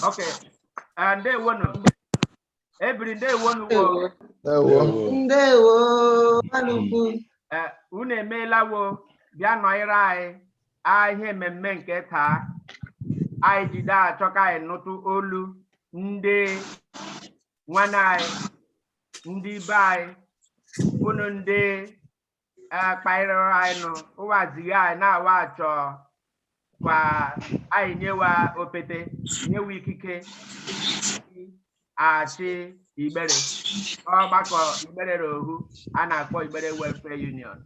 ok Ah, ndewonu ebiri ndewonu wo Ewo. ndewo anụkwu Eh, unu emeela wo bịa nọnyere anyị a ihe mmemme nke taa anyị jide achọ ka anyị nụtụ olu ndị nwanne anyị ndị ibe anyị unu ndị kpaịrịrị anyị nụ ụwazighị anyị na wa achọ kwa anyị nye wa opete nye wa ikike achị igbere ọgbakọ igbere na ohu a na-akpọ igbere welfare union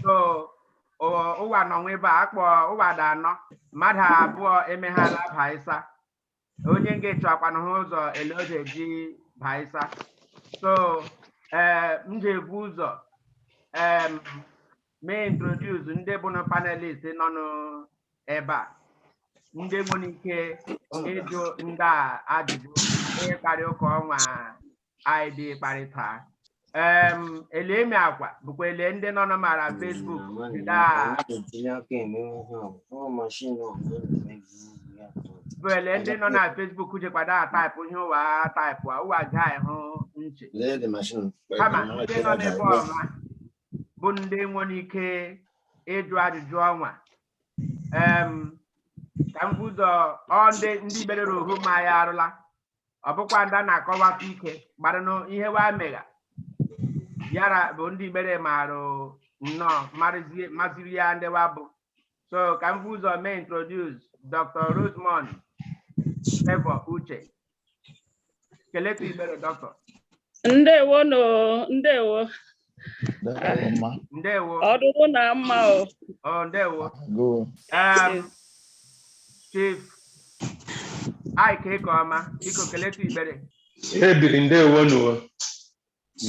so o- ụwa nọ nwebe a akpọ ụwa dị anọ mmadụ abụọ emeghala abaịsa onye nge achọkwanụ ha ụzọ ele ọ ga-eji baịsa so ee m ga-ebu ụzọ em mee introduce ndị bụ na panelist nọ n'ebe a ndị nwere ike ịjụ ndị a ajụjụ ịkparị ụka ọnwa anyị dị kparịta em ele mị agwabụkwa ele ndị nọ na mara Facebook daa bụ ele ndị nọ na Facebook jekwado a taịpụ ihe ụwa taịpụ a ụwa ga ịhụ nche kama ndị nọ n'ebe ọnwa bụ ndị nwere ike ịjụ ajụjụ ọnwa em ka m bu ụzọ ndị ndị igbere na ohu ma ya arụla ọ bụkwa ndị a na-akọwapụ ike gbara na ihe wa megha yara bụ ndị igbere marụ nnọọ marụzie maziri ya ndị wa bụ so ka m bu ụzọ mee introduce dr rosemond favour uche keletu igbere doctor ndewo nu ndewo Ndewo ma. ndewo ọ dụrụ na mma o ọ ndewo Gụọ. Em, chief Ike Ekeoma biko keletu Igbere Ebiri ndewo nuwo.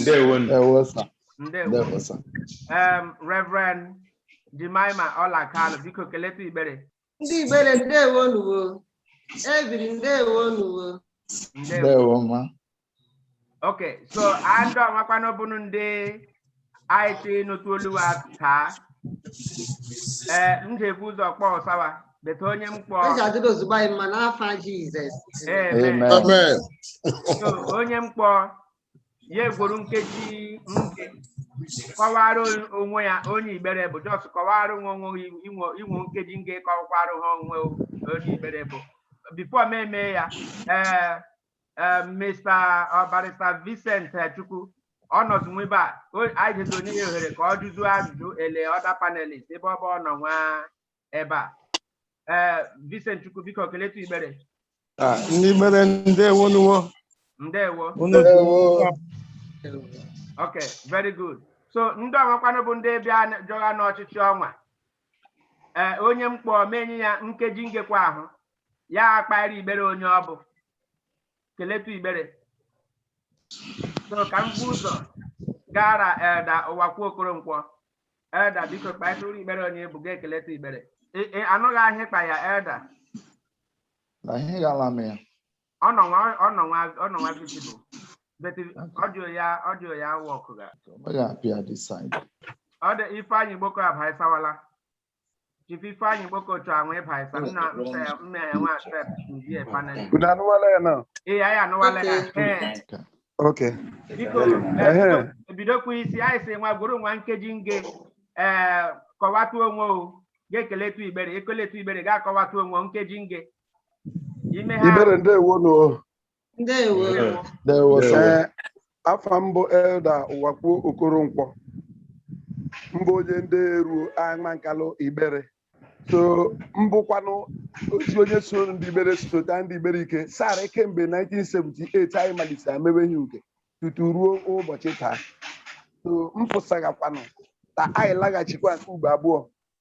Ndewo nu. Ndewo sir. ndewo Ndewo sir. Em, Reverend Jemima Ọla Kalụ biko keletu Igbere Ndị Igbere ndewo nuwo. Ebiri ndewo nuwo. Ndewo. ndewo ma Okay, so andụ amakwana bụnụ ndị anyị tụ ịnụtụ olu wa taa. Ee, m ga-ebu ụzọ kpọsa wa, bete onye m kpọọ. Eji adịrị ozugbo anyị mma n'afa Jizọs. Amen. amen Amen. So, onye m kpọọ ya gworo nkeji nge kọwara on- onwe ya onye igbere bụ just kọwara onwe onwe gị inwe inwe nkeji nge kọwakwara ha onwe onye igbere bụ before m eme ya ee ee mr o barrister vincent eh, chukwu ọ nọdụ nwebe a o- anyị jezi enye ya ohere ka ọ jụzuo ajụjụ ele other panelist ebe ọ bụ ọ nọ nwa ebe a ee Vincent Chukwu biko keletu igbere Ah, ndị Igbere ndewo nuwo ndewo unu ok very good so ndị ọnwakwanụ bụ ndị bịa jọgha n'ọchịchị ọnwa ee onye m kpọ m enye ya nkeji ngekwa ahụ ya akpaịrị Igbere onye ọ bụ keletu igbere so ka m bu ụzọ gara Elder Ụwakwe Okoronkwo Elder biko kpaetụrụ Igbere onye ị bụ ga ekeletu Igbere Ị- ị anụghị ihe ị kpa ya Elder na ihe ghala m ya ọ nọ nwa ọ nọ nwa ọ nọ nwa visible but audio ya audio ya work ga o meghị apịa this side ọ dị Ifeanyi Gboko abaisawala Chief Ifeanyi Gboko chọ ahụ ịbaisa nna nna ya nwa Sep ndị panel. Unu anụwala ya na? Ee, anyị anụwala ya. Ee, Okay. biko Ehe. eh, ebidokwa isi anyị si nwa gwuru nwa nkeji nge ee kọwatụ onwe o ga-ekeletu igbere ekeletu igbere ga-akọwatụ onwe o, nkeji nge ime ha Igbere ndewo nụ. Ndewo. Ndewo, sir. Ee, afa m bụ Elder Ụwakwe Okoronkwo m bụ onye ndị eruo Amankalụ Igbere so m bụkwanụ otu onye so ndị Igbere sota ndị Igbere ike sara kemgbe 1978 anyị malitere amewe ihe uke tutu ruo ụbọchị taa so m pụsagakwanụ ka anyị laghachikwa nke ugbo abụọ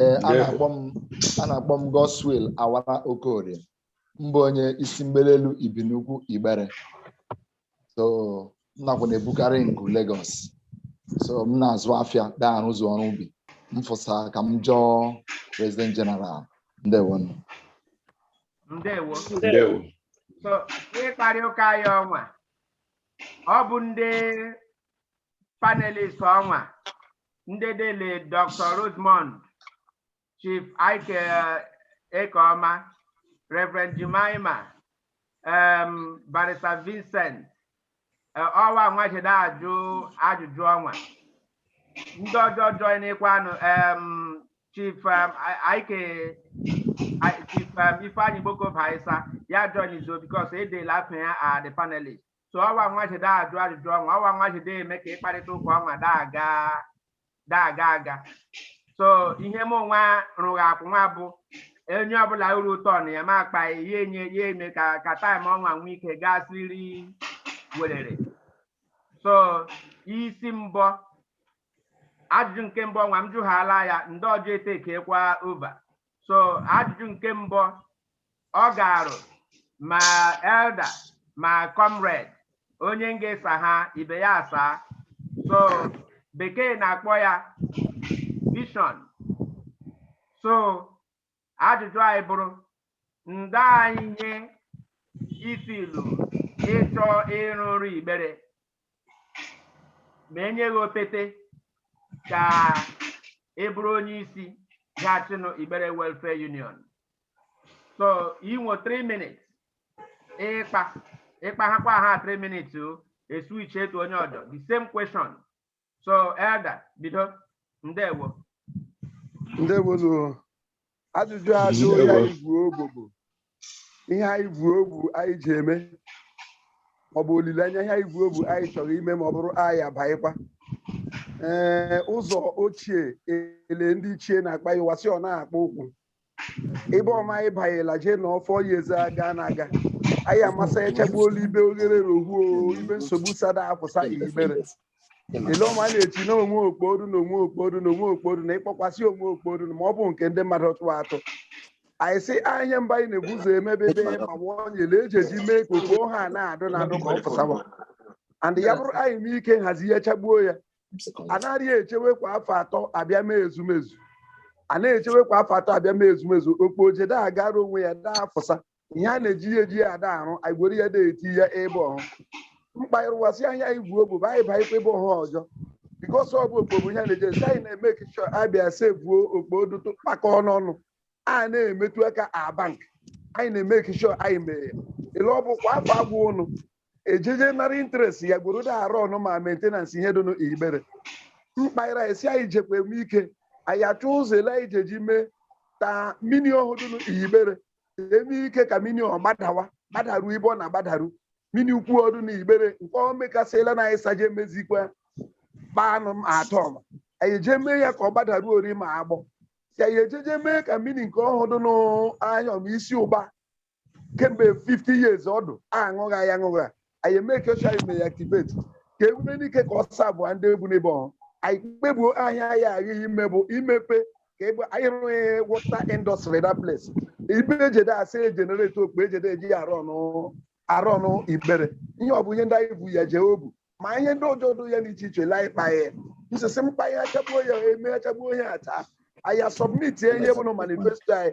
ee a na-akpọ m a na-akpọ m Godswill Awara Okorie m bụ onye isi Mgbele Elu Ibinaukwu Igbere so m nakwa na-ebukarị ngụ Lagos so m na-azụ afịa daa arụzụ ọrụ ubi m fụsa ka m jọọ President General ndewo nụ ndewo ndewo so ịkparị ụka anyị ọnwa ọ bụ ndị panelist ọnwa ndị dele Dr Rosemond Chief Ike Ekeọma Reverend Jemima um, Barrister Vincent eh, ọwa nwa ji daa ajụ ajụjụ ọnwa ndị ọjọọ joinekwanụ um, chief um, I- ike I- chief um, Ifeanyi Gboko baisa ya join izo because edela afa ya are the panelist so ọwa nwa ji daa ajụ ajụjụ ọnwa ọwa nwa ji daa eme ka ịkparịta ụka ọnwa daa aga daa aga aga so ihe m nwa rụghị akwụ nwa bụ onye ọbụla o ruo turn ya ma akpa ya enye ya eme ka ka time ọnwa nwee ike gaa siri werere so isi mbọ ajụjụ nke mbụ ọnwa m jụghala ya ndị ọjọọ etekekwa over so ajụjụ nke mbụ ọ garụ ma elder ma comrade onye m ga-esa ha ibe ya asaa so bekee na-akpọ ya vision so ajụjụ anyị bụrụ ndị anyị nye isi ilu ị chọ ịrụrụ Igbere ma e nye gị opete ka ị bụrụ onye isi ga-achịnụ Igbere Welfare Union so i nwe 3 minutes ịkpa ịkpa ha kwa ha 3 minutes e switch etu onye ọdọ the same question so elder bido ndewo ndewonu ajụjụ ajụ ihe anyị bu obu bụ ihe anyị bu obu anyị ji eme ọ bụ olileanya ihe anyị bu obu anyị chọrọ ime ma ọ bụrụ anyị abaịkwa ee ụzọ ochie ele ndị ichie na-akpa ya ụwa sị ọ na-akpa ụkwụ ebe ọma anyị banyela jee na ọfọ ya eze aga na aga anyị amasa ya chagbuo olu ibe oghere rohuo ibe nsogbu sada afụsa Igbere ele ọma a na-eti na onwe okporu na onwe okporu na onwe okporu na ịkpọkwasị onwe okporu na ma ọ bụ nke ndị mmadụ tụrụ atụ anyị sị anya mba anyị na-ebu ụzọ emebebe ma nwa onyele eji eji mee ka okpo ha na-adụ na adụ ka ọ fụsawa and ya bụrụ anyị mee ike nhazi ya chagbuo ya anaghị echewe kwa afọ atọ abịa mee ezumezu a na-echewe kwa afọ atọ abịa mee ezumezu okpo oje da agara onwe ya da afụsa ihe a na-eji eji ya ada arụ anyị gwere ya da eti ya ebe ọhụ mkpa ịrụwasị anyị bu obu bụ anyị baịkwa ebe ọhụ ọzọ because ọ bụ okpo bụ ihe a na-eji esi anyị na-eme occasion abịa sevuo okpo dụtụ kpakọ n'ọnụ a na-emetụ aka a bank anyị na-eme occasion anyị mee ya ele ọ bụ kwa afọ agwụ ụnụ ejeje nara interest ya gworo da arụ ọrụ ma maintenance ihe dịnụ Igbere mkpaịra esi anyị jekwa eme ike anyị achọ ụzọ ele anyị jeji mee ta mini ọhụ dịnụ Igbere eme ike ka mini ọ gbadawa gbadaru ibe ọ na-agbadaru mini ukwu ọ dụ na Igbere nke ọ mekasịla na anyị saje mezikwa kpanụ m atọ ma anyị eje mee ya ka ọ gbadaru ori ma agbọ si anyị ejeje mee ka mini nke ọhụ dịnụ anya ma isi ụba kemgbe 50 years ọdụ aṅụgha ya aṅụgha anyị eme ka oche anyị mee ya activate ka emume n'ike ka ọsọ abụọ ndị egwu n'ebe ọhụ anyị kpebuo ahịa ya aghaghị ime bụ imepe ka ebe anyị rụghị water industry na place ibe ejede asị e generate okpo ejede eji ya arụ ọrụ arụ ọrụ Igbere ihe ọ bụ ihe ndị anyị bu ya jee obu ma ihe ndị ọzọ dị ya n'iche iche lee ịkpa ya nsisi mkpa ya achagbuo ya eme achagbuo ya ata anyị a submit ihe bụ na manifesto anyị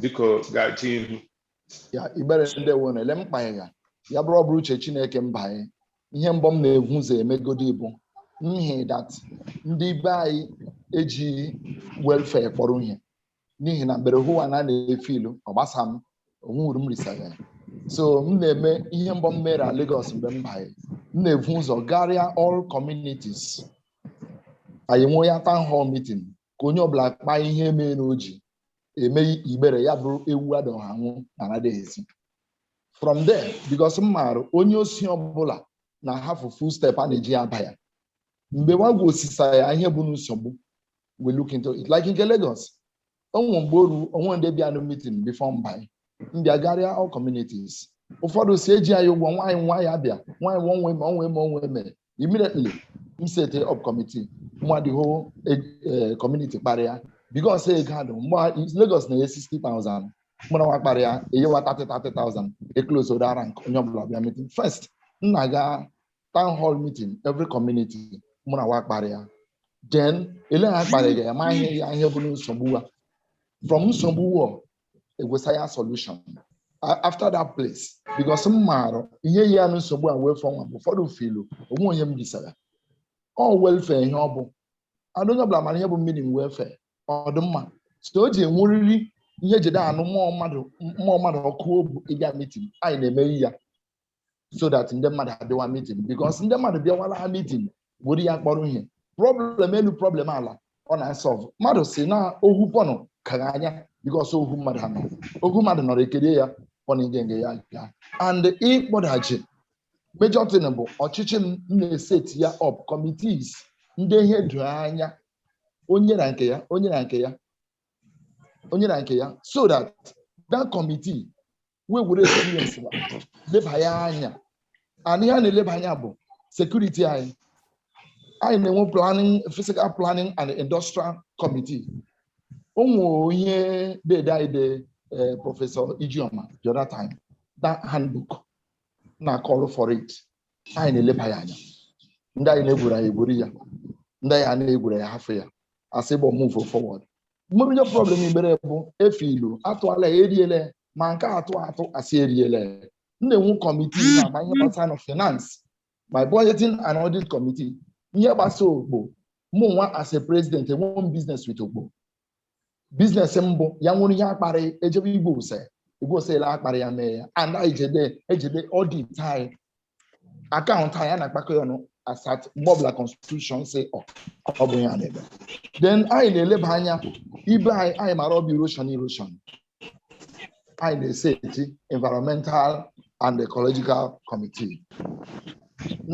biko gachi ihu ya Igbere ndewo na-ele mkpa ya ya ya bụrụ ọ bụrụ uche Chineke m banye ihe mbọ m na-evu ụzọ emegodi bụ n'ihi that ndị be anyị eji welfare kpọrọ ihe n'ihi na Igbere hụwa na a na-efe ilu ọ gbasa m onwuru m risara ya so m na-eme ihe mbọ m mere na Lagos mgbe m banye m na-evu ụzọ garịa all communities anyị nwee ya town hall meeting ka onye ọbụla kpaa ihe mee na oji eme Igbere ya bụrụ ewu adọghị anwụ na anaghị esi from there because m maara onye osi ọbụla na-ahafụ full step a na-eji ya aba ya mgbe wa gwa osisa ya ihe bụ nsogbu we look into it like nke Lagos o nwe mgbe o ru o nwe ndị bịa na meeting before m ba m bịa garịa all communities ụfọdụ si eji anyị ụgwọ nwaanyị nwa ya bịa nwaanyị nwa onwe ma onwe ma onwe eme immediately m sete up committee mụ na the whole community kparịa because ego adụ mgbe Lagos na-enye 60,000 mụ na wa kparịa enye wa 30,000 eclose ụda rank onye ọbụla bịa meeting first m na-aga town hall meeting every community mụ na wa kparịa then ele ha kparịga ya ma ihe bụ nsogbu wa from nsogbu wa egwesa ya solution after that place because m maara ihe yi ya na nsogbu a wee fọ nwa bụ ụfọdụ feel onwe onye m bisara all welfare ihe ọ bụ adụ onye ọbụla mara ihe bụ meaning welfare ọ dị mma so o ji enweriri ihe jide anụ ụmụ mmadụ ọkụ obu ịbịa meeting anyị na-emeri ya so that ndị mmadụ abịawa meeting because ndị mmadụ bịawara ha meeting were ya kpọrọ ihe problem elu problem ala ọ na-asolve mmadụ si na ohu pọnụ kara anya because ohu mmadụ ha nọ ohu mmadụ nọrọ ekerie ya pọnụ ngenge ya gaa and ịkpọdachi major thing bụ ọchịchị m m na-eset ya up committees ndị ihe doro anya onye na nke ya onye na nke ya onye na nke ya so that that committee wee were experience ha leba ya anya and ihe a na-eleba anya bụ security anyị anyị na-enwe planning physical planning and industrial committee o nwere ihe dede anyị de eh, Professor Ijeoma the other time that handbook na-acall for it anyị na-eleba ya anya ndị anyị na-egwuru anyị egwuru ya ndị anyị a na-egwuru ya hafụ ya as we move forward m maara ihe problem Igbere bụ efe ilu atụala eriele ma nke atụ atụ asị eriele m na-enwe committee na ma ihe gbasara na finance my budgeting and audit committee ihe gbasa okpo mụ nwa as a president enwe m business with okpo business m bụ ya nwere ihe akparị ejebe igwe ose igwe ose ele akparị ya mee ya and anyị jede ejede audit anyị akaụntụ anyị a na-akpakọ ya ọnụ as at mgbe ọbụla constitution sị ọ ọ bụ ya na-eme then anyị na-eleba anya ibe anyị anyị mara ọ bụ erosion erosion anyị na-eseti environmental and ecological committee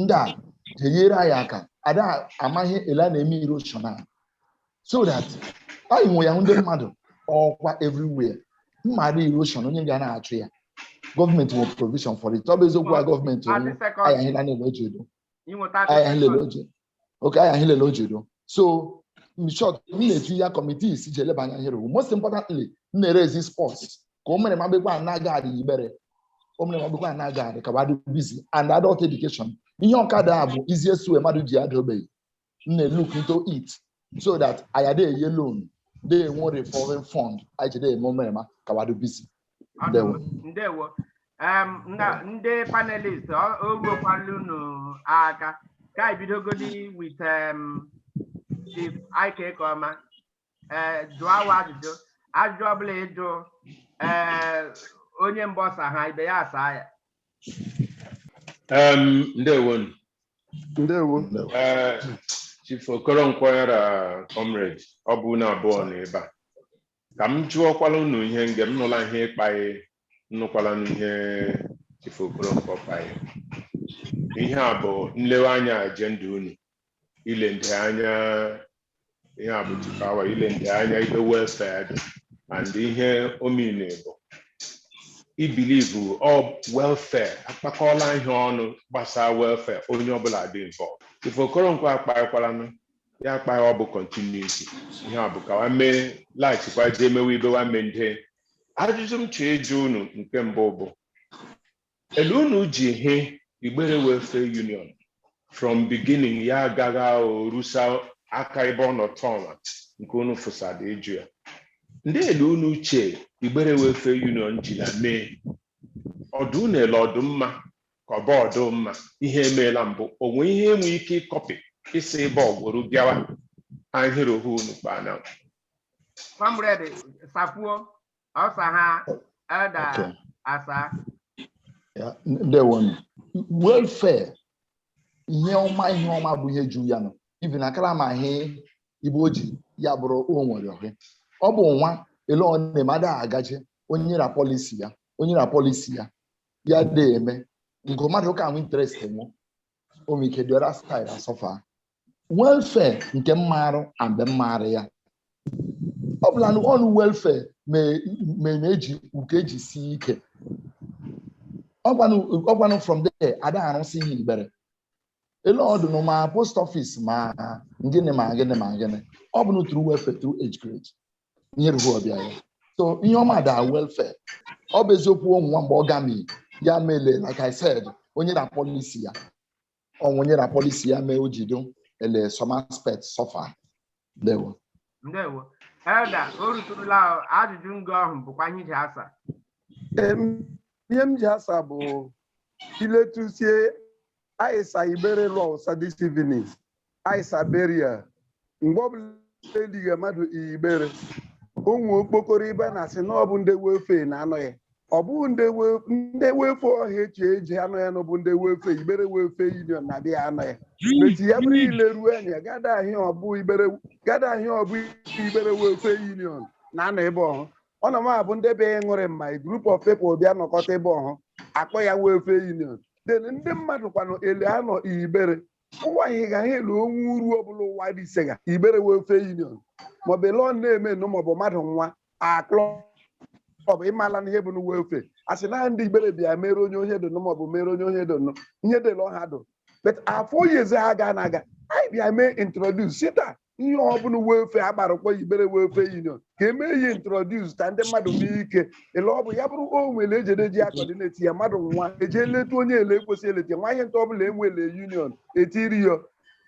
ndị a ga-enyere anyị aka ada amaghị ele a na-eme erosion a so that anyị nwe ya ndị mmadụ ọkwa everywhere mmadụ erosion onye ga na-achụ ya gọọmenti nwere provision for it ọ bụ eziokwu a gọọmenti anyị ahịla na-ele oji edo anyị ahịlele oji edo so in short m na-etu ya committees ji eleba anya here most importantly m na-erezi sports ka o mere magbekwa a na-aga adị Igbere o mere magbekwa a na-aga adị ka wa dị busy and adult education ihe ọkada a bụ easiest way mmadụ ji ada ogbenye m na-look into it so that anyị adị enye loan dị enwe revolving fund anyị ji dị eme omerema ka wa dị busy Ndewo. ndewo Em, na- ndị panelist ọ- o ruokwala unu aka ka anyị bidogodi with em, Chief Ike Ekeoma ee jụọ wa ajụjụ ajụjụ ọbụla ị jụ ee onye mbụ ọ saha ibe ya asaa ya Em, ndewonu ndewo Ee, Chief Okoronkwo ya ra comrade ọ bụ unu abụọ na ebe a ka m jụọkwala unu ihe nge m nụla ihe ị kpaghị m nụkwalanụ ihe Chief Okoronkwo kpaghị ihe a bụ nlewe anya ajenda unu ile ndị anya ihe a bụ Chief Awa ile ndị anya ibe welfare dị and ihe ọ mean bụ i believe ọ welfare akpakọọla ihe ọnụ gbasaa welfare onye ọbụla dị involved Chief Okoronkwo akpaghịkwalanụ ya akpaghị ọ bụ continuity ihe a bụ ka wa mee laghachikwa jee mewe ibe wa mende ajụjụ m chọọ ịjụ unu nke mbụ bụ elu unu ji hụ Igbere Welfare Union from beginning ya agaghị rusa aka ebe ọ nọ tọọla nke unu fụsada ịjụ ya ndị elu unu che Igbere Welfare Union ji na mee ọ dụ unu ele ọ dụ mma ka ọ bụ ọ dụ mma ihe e meela mbụ o nwe ihe e nwe ike ịkọpị isi ebe ọ gwụrụ bịawa ahịrị ohu unu kpaa na Comrade sakwuo, ọ saha Elder okay asa. Ya, ndewo nụ. welfare ihe ọma ihe ọma bụ ihe juru ya ọnụ even akara maghị ibe o ji ya bụrụ o nwere ohe ọ bụ nwa ele ọ na-eme ada agaje onye ra policy ya onye ra policy ya ya dị eme nke mmadụ ka nwe interest enwe omike dị ọra style asọfa welfare nke mmarụ a mgbe mmarụ ya ọ bụla na ọnụ welfare me- me- na-eji uke eji sie ike ọgwanụ ọgwanụ from there ada arụsị ihe igbere ele ọdụ na ma post office ma gịnị ma gịnị ma gịnị ọ bụ through welfare through age grade ihe ruru ọbịa ya so ihe ọma da welfare ọ bụ eziokwu ụmụ nwa mgbe ọ gami ya mele like I said onye na policy ya ọnwụ nye na policy ya mee o jido ele some aspect suffer ndewo ndewo Elder o ruturula ajụjụ ngo ahụ bụkwa ihe iji asa Em, ihe m ji asa bụ iletusie anyị sa igbere lọsa this evening anyị sa igbere a mgbe ọbụla eligha mmadụ igbere ụmụ okpokoro ibe na-asị na ọ bụ ndị welfare na-anọ ya ọ bụghị ndị we- ndị welfare ọha echi eji anọ ya na ọ bụ ndị welfare igbere welfare union na-abịa anọ ya meti ya bụrụ ile ruo anya gada ahịa ọbụ igbere gada ahịa ọbụ igbere welfare union na-anọ ebe ọhụ ọ na m abụ ndị bịa ịṅụrị mma a group of people bịa nọkọta ebe ọhụ akpọ ya welfare union then ndị mmadụ kwanụ ele anọ igbere ụwa anyị ga ele o nwe uru ọbụla ụwa dị ise ga igbere welfare union maọbụ ele ọ na-eme nụ maọbụ mmadụ nwa aklọ maọbụ ịmala na ihe bụ na welfare a sị na ndị igbere bịa mere onye ohe dụnụ maọbụ mere onye ohe dụnụ ihe dị ele ọha dụ but afọ oyeze ha ga na-aga anyị bịa mee introduce sita ihe ọbụla welfare agbarakwa igbere welfare union ka eme ihe introduce ka ndị mmadụ nwee ike ele ọ bụ ya bụrụ o nwere ejede ji a-coordinate ya mmadụ nwa eje leta onye ele ekwesị eleta nwa ihe nta ọbụla enwele union etiri ya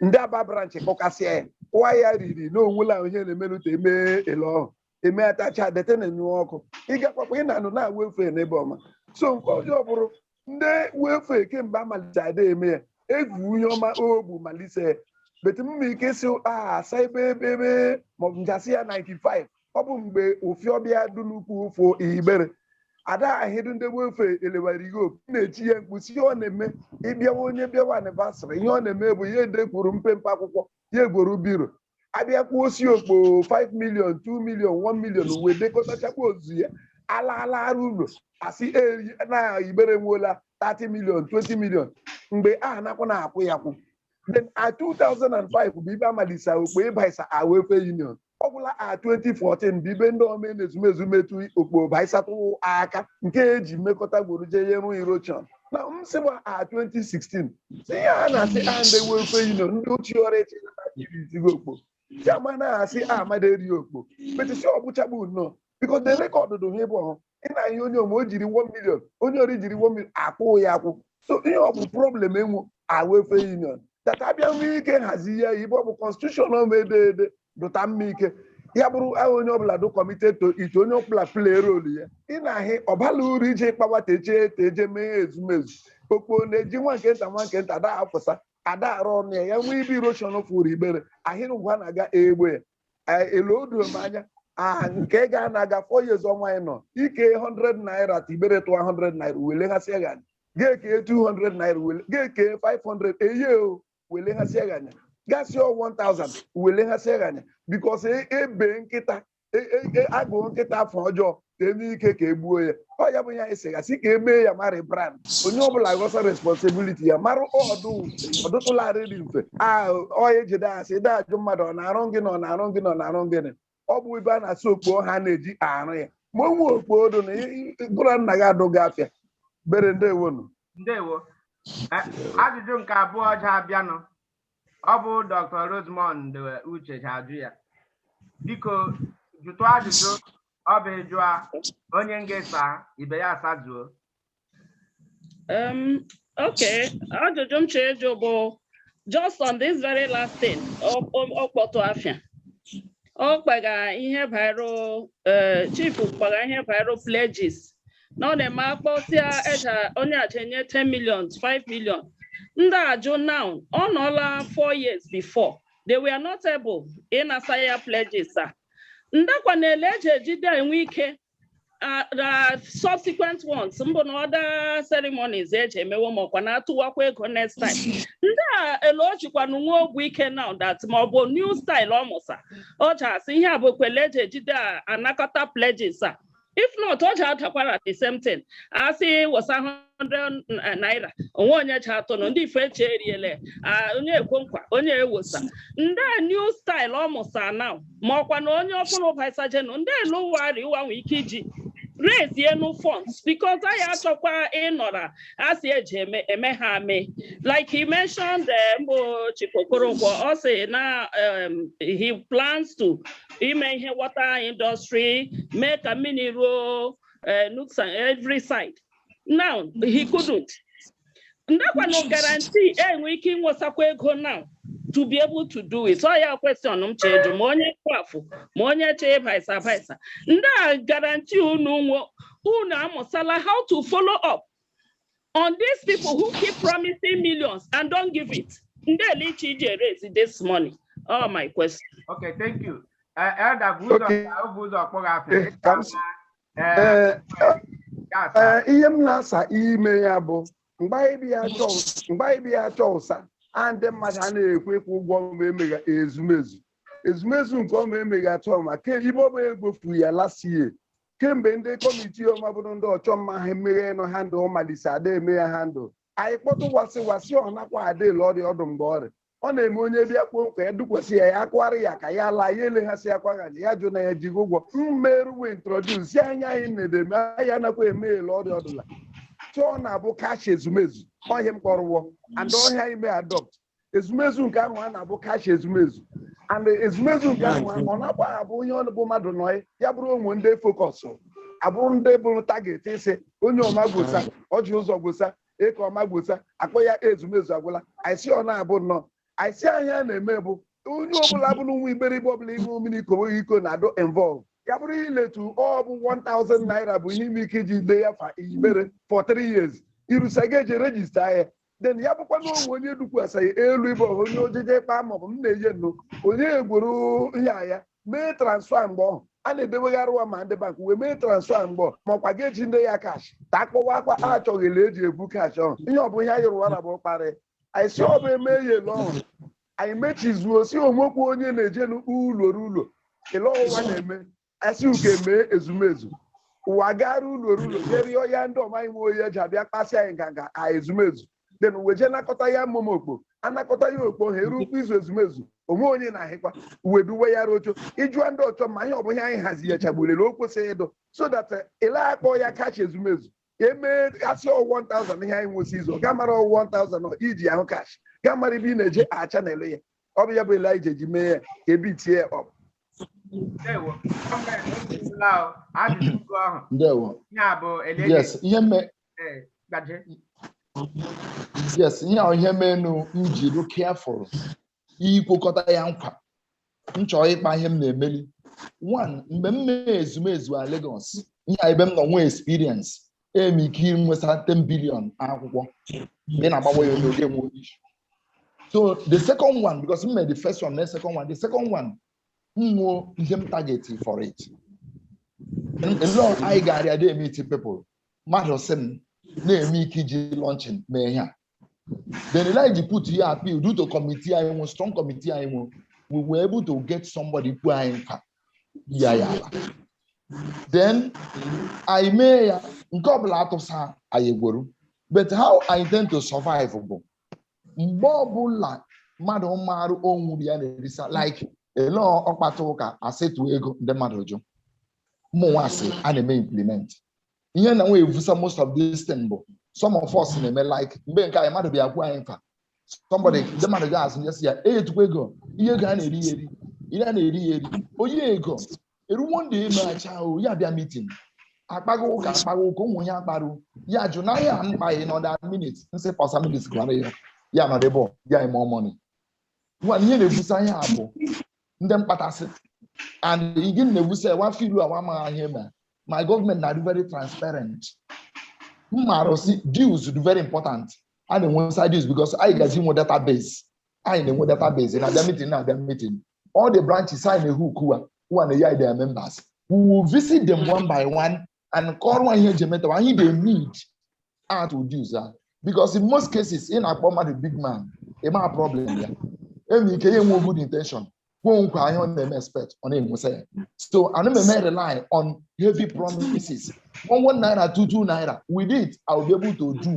ndị Aba branch kpọkasịa ya kụwa ya riri na onwela ihe na-emelụta eme ele ọhụ eme atacha dete na enye ọkụ ịgakwakwa ị na-anụ na welfare n'ebe ọma so nke ọjọọ bụrụ ndị welfare kemgbe amalite ada eme ya egwu ihe ọma ogbu malite bete mma ike si asa ebe ebe ebe maọbụ njasị ya 95 ọ bụ mgbe welfare bịa dị n'ukwu ụfọ igbere ada ahịdụ ndị welfare elewara ihe opi na-echi ya mkpu si ihe ọ na-eme ịbịawa onye bịawa anniversary ihe ọ na-eme bụ ya edekwuru mpempe akwụkwọ ya egworo biro abịa kwuo o si okpo 5 million 2 million 1 million uwe dekọtachakwa ozu ya ala ala arụ ụlọ asị na igbere nweola 30 million 20 million mgbe a nakwa na-akwụ ya akwụ then a 2005 bụ ibe amalisa okpo ịbaisa a welfare union ọ gwụla a 2014 bụ ibe ndị ome n'ezumezu metụ okpo baisatụ aka nke eji mmekọta gworo jee rụ erosion na m sị gba a 2016 si ihe a na-asị a ndị welfare union ndị ochie ọrụ eche irizigo okpo si ama na-asị a amada eri okpo metisi ọbụchagbu nnọọ biko the record dụ ha ịbụ ọhụ ị na ihe onye ome o jiri 1 million onye ori jiri 1 million akwụ ya akwụ so ihe ọ bụ problem enwe a welfare union tata abịa nwee ike hazi ya ibe ọ bụ constitution ọma ede ede dụta mma ike ya bụrụ ahụ onye ọbụla dụ committed to it onye ọbụla play role ya ị na-ahị ọbala uru ije kpawa teje teje mee ezumezu okpo na-eji nwa nke nta nwa nke nta ada afụsa ada arụ ọnụ ya ya nwee ibe erosion fụrụ igbere ahịrị ngwa na-aga egbe ya Eh, elu odu m anya ah nke ga na-aga four years ọnwa anyị nọ ike 100 naira ta igbere tụwa 100 naira wele ha sịa ghanya ga-eke 200 naira wele ga-eke 500 eye o wele ha sie ghanya gasị ọ 1000 wele ha sie ghanya because ebe nkịta e- e- e- agụụ nkịta afọ ọjọọ ka eme ike ka egbuo ya ọ ya bụ ya esegasị ka emee ya mara brand onye ọbụla ghọsa responsibility ya mara ọdụ ọdụtụlarịrị mfe a ọ ejide asị ide ajụ mmadụ ọ na-arụ gịnị ọ na-arụ gịnị ọ na-arụ gịnị ọ bụ ibe a na-asị okpo ha na-eji arụ ya ma onwe okpo odo na ị- ị- gụra nna gị adụghị afịa bere ndewo nu ndewo Eh, ajụjụ nke abụọ ji abịanụ ọ bụ dr rosemond uche ji ajụ ya biko jụtụ ajụjụ ọ bụ ị jụa onye nga-asa ibe ya asazuo Um, okay, ajụjụ m chọrọ ịjụ bụ just on this very last thing, ọ- ọ ọ kpọtụ afa ya. Ọ kpaga ihe bairu eh, chief kpaga ihe bairu pledges. Na ọ na-eme akpọsịa eja onye aja enye 10 million, 5 million. Ndị ajụ now, ọ nọọla four years before. They were not able ịnasa ya pledges a. Ndakwa na-ele eji ejide enwe ike uh, the subsequent ones mbụ na other ceremonies eji emewo ma ọkwa na-atụwakwa ego next time ndị a elu o jikwanụ nwa ogwu ike now that ma ọ bụ new style ọ mụsa ọ ji asị ihe a bụ ekwele eji ejide a- anakọta pledges a if not ọ ji adakwara the same thing asị wụsa ha 100 na- naira onwe onye ji atọ nọ ndị ife eche eriele ah, onye ekwe nkwa onye ewosa ndị a new style ọ mụsa na ma ọkwa na onye ọfụrụ baisajenu ndị a lụwarị ụwa nwee ike iji raisie nu funds because anyị achọkwa ịnọra asị eji eme eme ha ame like he mentioned eh, mbụ Chief Okoronkwo ọ sị na um, he plans to ime ihe water industry mee ka mmiri ruo eh, nooks and every side now he couldn't ndaa kwanụ guarantee enwe ike ịnwesakwa ego now to be able to do it ọ ya question m chọ ajụ ma onye kwafụ ma onye chee ịbaisa abaisa ndaa guarantee unu nwe unu amụsala how to follow up on these people who keep promising millions and don't give it ndị ele ị chọ iji e-raise this money ọ my question Okay, thank you. Eh, Elder bụ ụzọ Okay. ka ọ bụ ụzọ kpọrọ afọ. Eh, ka m si- Ee, ya asa. ee, ihe m na-asa ime ya bụ mgbe anyị bịa chọọ mgbe anyị bịa chọọ ụsa a ndị mmadụ a na-ekwe nkwa ụgwọ ma emegha ezumezu ezumezu nke ọma emegha atụ ọma ke ibe ọma egbofu ya last year kemgbe ndị committee ọma bụrụ ndị Ọchọmma ha emeghe nọ handle malise ada eme ya handle anyị kpọtụ wasị wasị ọ nakwa adị ele ọrịa ọdụ mgbe ọrịa ọ na-eme onye bịa kwoo nkwa ya dukwasị ya ya akụọra ya aka ya laa ya eleghasị ya kwagha ya jụ na ya jigo ụgwọ mere e wee introduce ihe a anyị na-edeme anyị anakwa eme ele ọrịa ọdụla chọọ na-abụ cash ezumezu ọ ihe m kpọrọ wọ and ọ ihe anyị mee adopt ezumezu nke ahụ a na-abụ cash ezumezu and ezumezu nke ahụ ọ na-agba abụ onye ọ bụ mmadụ nọ ya bụrụ o nwe ndị e focus abụrụ ndị bụ target a sị onye ọma gwosa Ọjị Ụzọ gwosa Ekeoma gwosa akpọ ya ezumezu agwụla anyị sị ọ na-abụ nnọọ anyị sị ihe a na-eme bụ onye ọbụla bụ nwa Igbere ọbụla ihu mmiri ikowe iko na-adụ involve ya bụrụ iletu ọ bụ 1000 naira bụ ihe ị nwe ike iji dee ya fa Igbere for 3 years irusa ga-eji register ya then ya bụkwa na o nwe onye dukwasịghị elu ịbụ ọha onye ojije ịkpa maọbụ m na-eje nnụ onye egwuru ya ya mee transfer mgbe ọhụ a na-edebegharị ụwa ma ndị bank wee mee transfer mgbe ọhụ ma ọkwa ga-eji ndị ya cash ta akpọwakwa achọghịla eji ebu cash ọhụ ihe ọ bụ ihe anyị rụwara bụ kparị anyị sị ọ bụ eme ya ele ọhụ anyị mechizuo sị o nwekwa onye na-eje n'ụlọ ruo ụlọ ele ọhụ wa na-eme asị uke mee ezumezu wa gara ụlọ ruo ụlọ jee rịọ ya ndị ọmaghị m oyi eji abịa kpasị anyị nganga ka ezumezu then wa ejee nakọta ya mmụma okpo anakọta ya okpo ha eru ụkwụ izu ezumezu o nwe onye na-ahịkwa uwe duwe ya rocho ịjụa ndị Ọchọmma ihe ọ bụghị anyị hazi ya ka ọ bụrụ ele o kwesịrị ịdụ so that eh, ị la-akpọ ya cash ezumezu emee asị ọ 1000 ihe anyị nwụsị izu ga mara ọ 1000 iji ahụ cash ga mara ebe ị na-eje a channel ya ọ bụ ya bụ ele anyị ji eji mee ya ka ebi tie ya up Ndewo. Emeela o. Ajụjụ ugo ahụ. ndewo Ihe a bụ Eliezer yes ihe me eh, Gaje. yes ihe a ihe menụ m ji dị careful ikwekọta ya nkwa m chọrọ ịkpa ihe m na-emeli one mgbe m mee Ezumezu a Lagos ihe a ebe m nọ nwee experience eme ike nwesa 10 billion akwụkwọ mgbe ị na-agbawa ya onye oge nwe onye isi so the second one because m mee the first one mee second one the second one m nwuo ihe m target for it and ele anyị ga-arịa dị emeet people mmadụ sị m na-eme ike iji launching mee ihe a Then ele e ji put ihe appeal due to committee anyị nwe strong committee anyị nwe we were able to get somebody kwu anyị nkwa ya ya ala. Then anyị mee ya nke ọbụla atụsa anyị egworo but how I intend to survive bụ mgbe ọbụla mmadụ marụ o nwo uru ya na-erisa like ele ọkpata ụka a sị tụ ego ndị mmadụ jụ mụnwa sị a na-eme implement ihe na nwe evusa most of this thing bụ some of us na-eme like mgbe nke anyị mmadụ bịa kwuo anyị nkwa somebody ndị mmadụ ga azụ nyesi ya e etukwa ego ihe ego a na-eri ya eri ihe a na-eri ya eri onye ego eruwo ndị emeacha ya bịa meeting akpaghị ụka akpaghị ụka ụmụ ihe akparụ ya jụ na ya akpaghị na ọ dị a minute m sị pasa minute gụara ya ya nọdụ ebe ọ, ya eme ọmọnị nwa ihe na-ebusa ihe a bụ ndị mkpatasị and again na-ebusa ewa afọ ilu awa amaghị ihe eme my government na-adị very transparent m maara si dues dị very important a na-enwesa dues because anyị ga-eji nwe database anyị na-enwe database na-abịa meeting na-abịa meeting all the branches anyị na-ehu ukuwa ụwa na ya their members we will visit them one by one and kọrọ wa ihe eji emeta and the need atụ dues a because in most cases ị na-akpọ mmadụ big man ị maa problem ya enwe ike ya enwe good intention kwuo nkwa ihe ọ na-eme expect ọ na-enwesa ya so anaa m eme rely on heavy promises one one naira two two naira with it I will be able to do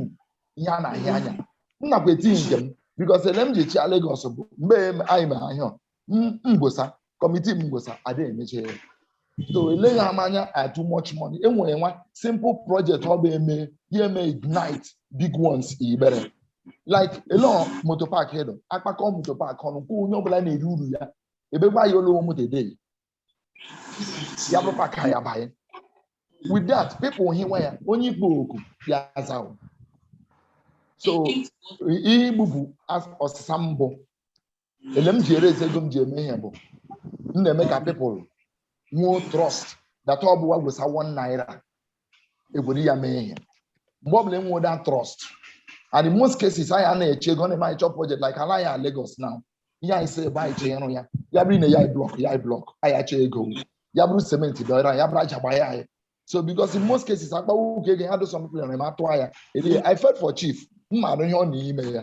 ihe a na-ahụ anya m nakwa eti nke m because ele m ji chịa Lagos bụ mgbe anyị mee ihe a M- mgbosa committee mgbosa ada emeche ya so eleghị ama anya a too much money enwere nwa simple project ọ bụ eme ya eme ignite big ones Igbere like elo motor park hedo akpakọ motor park ọnụ kwụ onye ọbụla na-eri uru ya ebekwa ya olowo moto edei ya bụ park ha ya banye with that people hụwa ya onye ị kpọ oku ya azawo so ihe igbupụ as- ọsịsa mbụ ele m ji eraise ego m ji eme ihe bụ m na-eme ka people nwee trust that ọ bụ wa gwesa one naira egwere ya mee ihe mgbe ọ bụla enwe that trust and in most cases anyị anaghị eche ego ọ na-eme anyị chọọ project like ala ya Lagos now ihe anyị si ebe anyị chee ịrụ ya ya bụrụ nye anyị block nye anyị block anyị achọ ego ya bụrụ cement dọrọ ya bụrụ aja gbaa ya anyị so because in most cases akpawo ụka ego ha do some people na-eme atụ ya eri I felt for chief m maara ihe ọ na-eme ya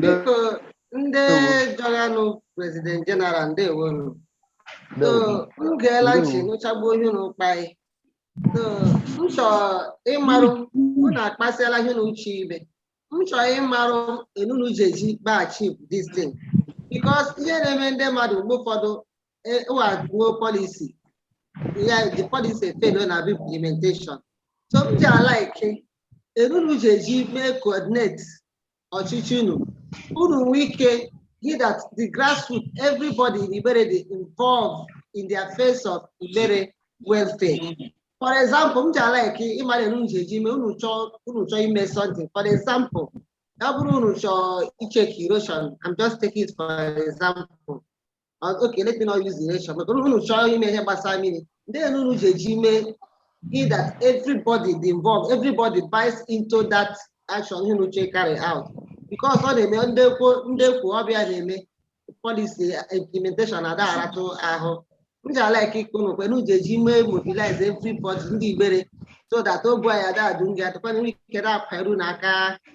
Biko ndị jọghanụ President General ndewonu. So m geela ntị nụchagbuo ihe unu kpa anyị. So m chọọ ịmarụ unu akpasịala ihe unu uche ibe. M chọọ ịmarụ ele unu ji eji mee achieve this thing. Because ihe na-eme ndị mmadụ mgbe ụfọdụ eh, ụwa draw policy. Yeah, the policy fail na implementation. So m ji a like, ele unu ji eji mee coordinate ọchịchị unu, unu nwee ike he that the grassroots, everybody in Igbere dị involved in the affairs of Igbere welfare. For example, m ji a like ịmara ele unu ji eji mee unu chọọ unu chọọ ime something. For example, ọ bụrụ unu chọọ icheck erosion, I'm just taking it for example. Uh, okay, let me not use erosion, but unu chọọ ime ihe gbasara mmiri, then ele unu ji eji mee he that everybody dị involved, everybody buys into that action ihe unu chọọ carry out. Because ọ na-eme ndị ekwo ndị ekwo ọ bụ ya na-eme policy implementation na adagharatụ ahụ. M ji a like ikpe unu kwe, unu ji eji mee mobilize everybody ndị Igbere so that ogbu anyị adadu nga adịkwana ike na-akwa eru n'aka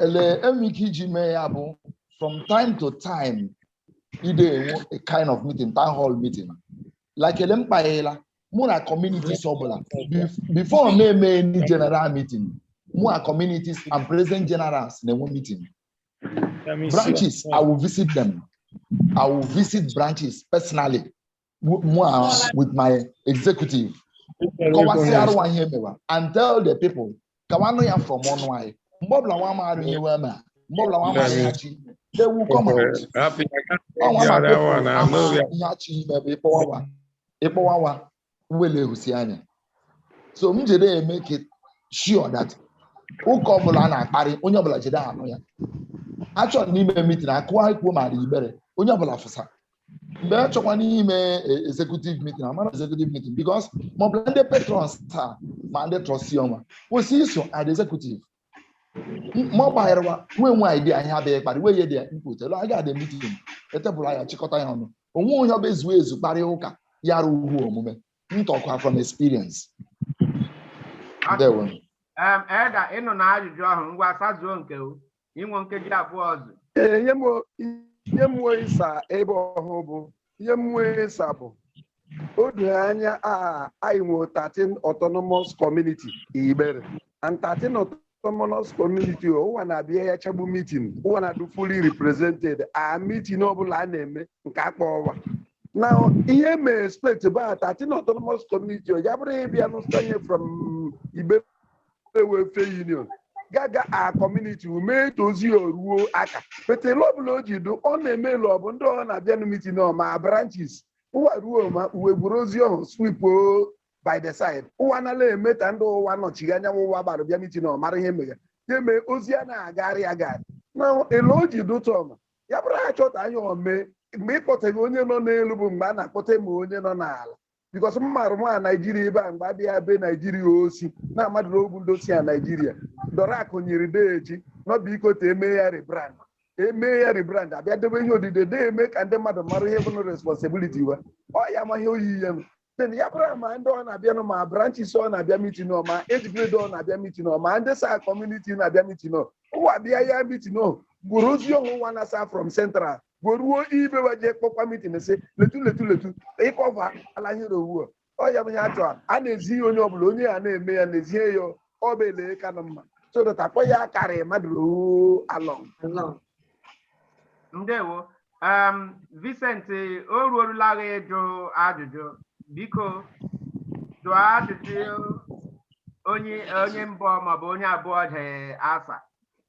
ele e nwe ike iji mee ya bụ from time to time ide enwe a kind of meeting town hall meeting like ele m kpaghela mụ na communities ọbụla Bef- before m emee any general meeting mụ na communities and president generals na-enwe meeting branches i will visit them i will visit branches personally Moas with my executive. Kọwasịara nwa ihe mewa and tell the people ka wa nụ ya from ọnụ anyị. Mgbe ọbụla nwa amaghị ihe wee mee, mgbe ọbụla nwa amaghị ihe chi, they will come out. Happy, I can't Ọ take nwa the ma other people one. I ama know that. ihe chi ime bụ ịkpọwa nwa, ịkpọwa nwa, uwele ehusi anya. So m jide ya make it sure that ụka ọbụla a na-akparị, onye ọbụla jide anụ ya. Achọrọ n'ime meeting akụwa ikwuo ma dị Igbere, onye ọbụla fụsa. mgbe a chọkwa n'ime e- executive meeting amara executive meeting because ma ọ bụla ndị patrons taa ma ndị trustee nwa kwesị iso adị executive M- ma ọ gbagharawa nwee nwe idea ihe adịghị kparị wee ye dị ya input elu aga adị meeting e table anyị achịkọta ya ọnụ onwe onye ọbụ ezu ezu kparịa ụka ya arụ uhu omume m talk kwa from experience ndewo Em, Elder, ị nụna ajụjụ ahụ ngwa sazuo nke o. i nwe nkeji abụọ ọzọ Ee, ihe m nwe ihe m nwe ịsa ebe ahụ bụ ihe m nwe ịsa bụ o doro anya a anyị nwere 13 autonomous community Igbere and 13 autonomous community o, ụwa na-abịa ya chagbu meeting ụwa na-adụ fully represented a meeting ọbụla a na-eme nke a kpọ ụwa na ihe m expect bụ a 13 autonomous community o, ya bụrụ ịbịa n'ụsanye from Igbere Igbere Welfare Union gaga a community ime ta ozi ruo aka but ele ọbụla o ji dị ọ na-eme ele ọ bụ ndị ọ na-abịa na meeting ọ ma branches ụwa ruo ma ụwa eburu ozi ọhụ sweep o by the side ụwa nala eme ka ndị ụwa nọchighi anya ụwa gbara bịa meeting ọ mara ihe mega ya mee ozi a na-agagharị agagharị na ele o ji dị tọma ya bụrụ ha chọta anya ome mgbe ị kpọtaghị onye nọ n'elu bụ mgbe a na-akpọta ma onye nọ n'ala because m marụ nwa naijiria ebe a mgbe abịa be naijiria osi na amadụ na ogwu ndị osi a naijiria dọrọ akụ nyiri deeji nọbụ ikọta eme ya rebrand eme ya rebrand abịa debe ihe odide na-eme ka ndị mmadụ mara ihe bụnụ responsibility wa ọ ya ma ihe oyiyi ya nụ then ya bụrụ ma ndị ọ na-abịanụ ma branches ọ na-abịa mitin ọ ma age grade ọ na-abịa mitin ọ ma ndị si a community na-abịa mitin ọ ụwa bịa ya mitin ọ eburu ozi ọhụ nwa na-asa from central garuo ibe wa jee kpọkwa mitin sị lee otu lee otu lee otu ịkọva ala ihe ohu ọ ya bụ ihe a chọrọ a na-ezi ihe onye ọbụla onye a na-eme ya na-ezie ya ọ bụ ele kanụ mma so that akpọ ya carry mmadụ ohu along ndewo um, Vincent o ruorula gị ịjụ ajụjụ biko jụọ ajụjụ onye onye mbụ maọbụ onye abụọ ji asa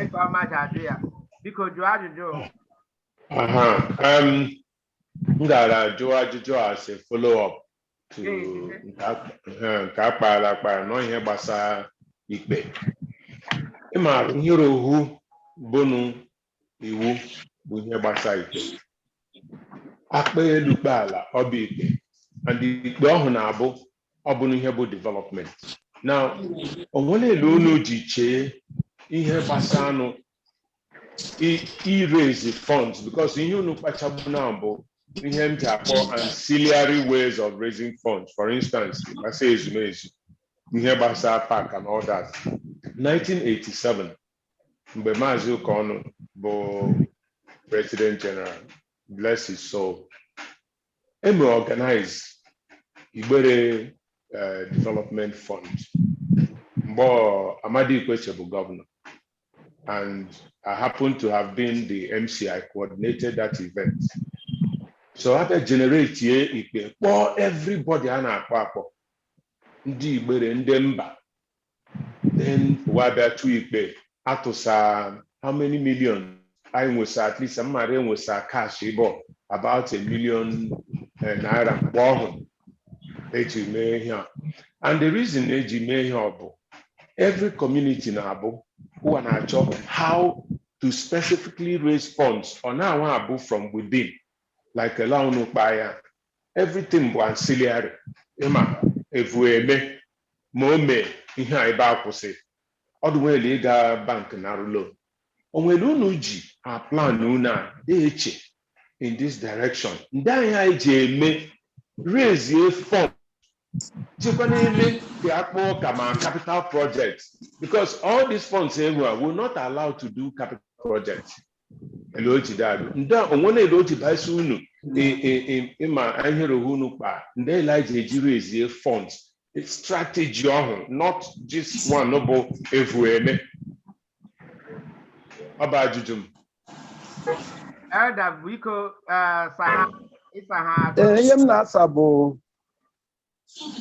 Ekeoma ji ajụ ya. Biko jụọ ajụjụ. o. Aha, um, m gara jụọ ajụjụ as a follow up to Ee, ee. nke a- ha, nke a kpaara akpa nọ ihe gbasara ikpe. Ị maara ihe ohu bụnụ iwu bụ ihe gbasa ikpe akpa elu kpe ala ọ bụ ikpe and ikpe ọhụ na-abụ ọ bụnụ ihe bụ development now onwere ele unu ji chee ihe gbasanụ i- iraise funds because ihe unu kpachagbu na bụ ihe m ji akpọ ancillary ways of raising funds for instance ihe gbasa ezumezu ihe gbasara park and all that 1987 mgbe maazị ụkọnụ bụ president general bless his soul eme organize igbere eh, development fund mgbe ọ- amadi ikwechegh bụ governor and i happen to have been the mc i coordinated that event so abịa generatie ikpe kpọọ everybody a na-akpọ akpọ ndị igbere ndị mba then ụwa abịa tụọ ikpe atụsa how many million anyị nwesa at least m mara enwesa cash bụ about a million eh, naira mgbe ọhụ eji mee ihe a and the reason eji mee ihe ọ bụ every community na-abụ ụwa na-achọ how to specifically raise funds ọ na-anwa abụ from within like ele unu kpaa ya everything bụ ancillary ịma evu eme ma o mee ihe a ebe a kwụsị ọ dụ nwere ịga bank narụ loan o nwere unu ji aplan unu a na-eche in this direction ndị anyị anyị ji eme raisie fund jikwa na-eme ka akpọ ụka ma capital project because all these funds e nwe will not allow to do capital project ele o ji dadụ ndị a o nwe na ele o ji baisi unu ị- ị- ị- ịma ihe rohe unu kpa ndị ele anyị ji eji raisie funds strategy ọhụ not just one bụ evu eme ọ bụ ajụjụ m Elder biko eh, saha ịsaha Ee, ihe m na-asa bụ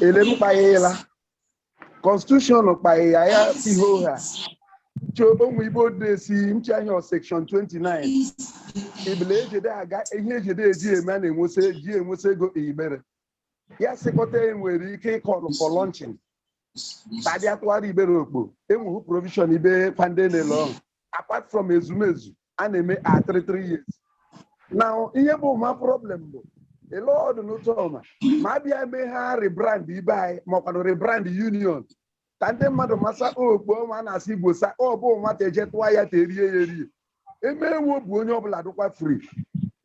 ele m kpaila constitution kpaila ya ihe oha cho o nwe ibe o de sị m che ọ section 29 ibele ejede aga ihe ejede eji eme a na-enwesa eji enwesa ego Igbere ya sịkọta e nwere ike ịcall for launching taa dị a tụhara Igbere okpo enweghị provision ibe kpa ndị ele ọhụ apart from ezumezu a na-eme a three three years na ihe bụ ma problem bụ ele ọ dụ n'ụtọ ọma ma a bịa mee ha rebrand ibe anyị makwanụ rebrand union ka ndị mmadụ masa okpo ọma a na-asị Igbo sa ọ bụ nwata eje tụwa ya ta erie ya erie emewo bụ onye ọbụla dụkwa free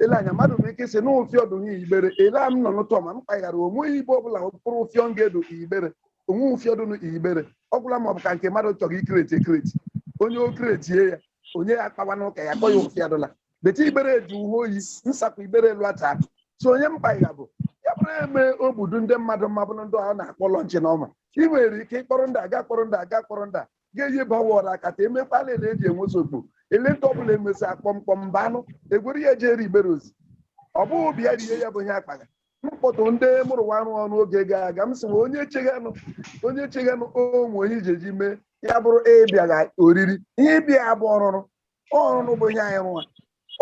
ele anya mmadụ nwere ike sị na ụfịọ dụ n'Igbere ele a m nọ n'ụtọ ma m kpaghara o nweghị ibe ọbụla mkpụrụ ụfịọ m ga-edu Igbere o nwe ụfịọ dụ n'Igbere ọ gwụla ma ọ bụ ka nke mmadụ chọrọ icreate ecreate onye o createe ya onye ya akpawa n'ụka ya kpọ ya ụfịọ dụla bete Igbere eji uwe oyi nsakwa Igbere elu ata so onye mkpagha bụ ya bụrụ eme obudu ndị mmadụ mma bụrụ ndị ahụ na-akpọ launching ọma ị nwere ike ịkpọrọ ndị aga kpọrọ ndị aga kpọrọ ndị a ga-eyi bawọrọ akata emekwala ele eji enwesa okpo ele ndị ọbụla emesi akpọmkpọm mba anụ egwere ya ejere Igbere ozi ọ bụghị bịa rie ya bụ ihe akpaga mkpọtụ ndị mụ rụwara ọrụ oge gara aga m sị nwe onye cheghanụ onye cheghanụ o nwe onye iji eji mee ya bụrụ ị bịaga oriri ihe ị bịa ya bụ ọrụrụ ọrụrụ bụ ihe anyị rụwa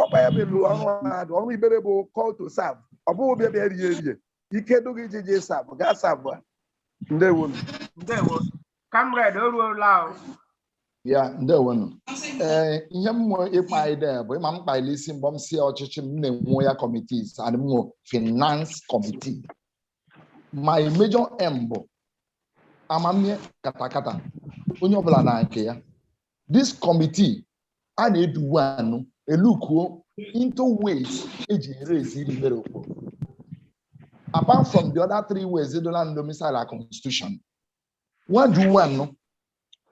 ọkpa ya bụ ọrụ mmadụ ọrụ Igbere bụ call to serve ọ bụghị bịa bịa rie rie ike dụ gị iji jee serve gaa serve a ndewonụ ndewo Comrade, o ruola o. ya ndewonụ ee ihe m nwe ịkpa ide bụ ịma m kpaila isi mgbe m si ọchịchị m na-enwe ya committees and m nwe finance committee my major aim bụ amamihe katakata onye ọbụla na nke ya this committee a na-eduwe anụ elookuo into ways eji eraiseri Igbere okpo apart from the other three ways edola and domiciled constitution nwa ju nwa nnụ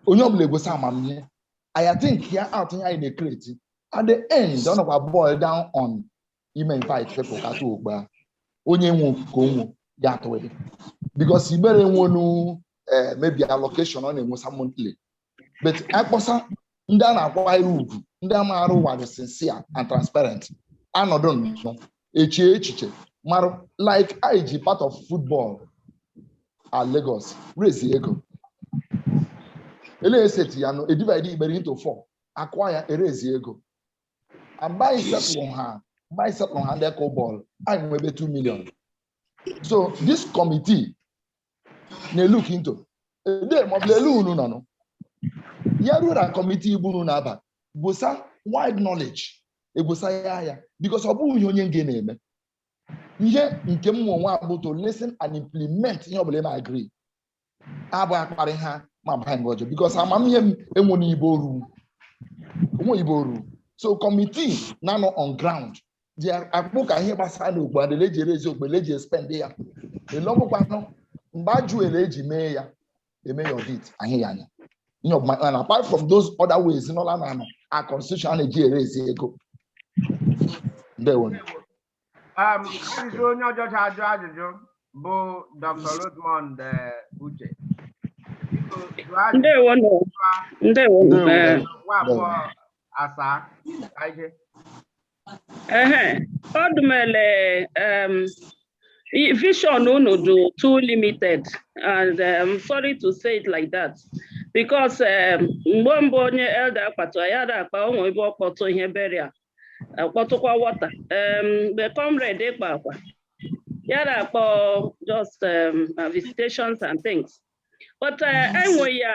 onye ọbụla egosi amamihe aya think ya out ihe anyị na-ekreti at the end ọ nọkwa boil down on ime invite people ka tụ okpo a. onye nwe ka o nwe ya atụghị because igbere nwenu eh, maybe allocation ọ na-enwesa monthly but akpọsa ndị a na-akwanyere ugwu ndị a maarụ wa dị sincere and transparent anọdụ nnọọ eche echiche mara like anyị ji part of football at Lagos raise ego ele eseti ya nụ edivide igbere into four akụọ ya erezi ego mgbe anyị settle ha mgbe anyị settle ha ndị kụ bọọlụ anyị nwebe 2 million so this committee na-elook into ede maọbụ lelu unu nọ nụ ya rura kọmitii bụ unu na-aba busa wide knowledge ebusa ya ya bikos ọ bụghị ihe onye nge na-eme ihe nke mụ onwe abụ to listen and implement ihe ọbụla eme agree abụ akparị ha ma baa nga ọjọọ bikos amamihe m enwere ibe o ru enwere ibe o ru so kọmitii na-anọ on ground ji akpụ ka ihe gbasara na okpo a dị ele eji erezi okpo ele eji espend ya ele ọbụkwanụ mgbe ajụ ele eji mee ya eme ya audit ahụ ya anya ihe ọbụma and apart from those other ways nọla na our constitution a na-eji erezi ego ndewo Um, ajụjụ onye ọjọ ja-ajụ ajụjụ bụ Dr. Rosemond eh, Uche. Biko, jụọ ajụjụ Ndewo nụ. Ndewo nụ. Ndewo. Ee, nwa abụọ asaa ka ije. Ehe, Odumele, um, i- vision unu dụ too limited, and um, sorry to say it like that, because um, mgbe mbụ onye elder akpatụ ya ada akpa onwe ibe ọ kpọtụ ihe burial, akpọtụkwa water. Um, mgbe comrade kpaakwa, ya ada akpọ just um, uh, visitations and things. But uh, enwe ya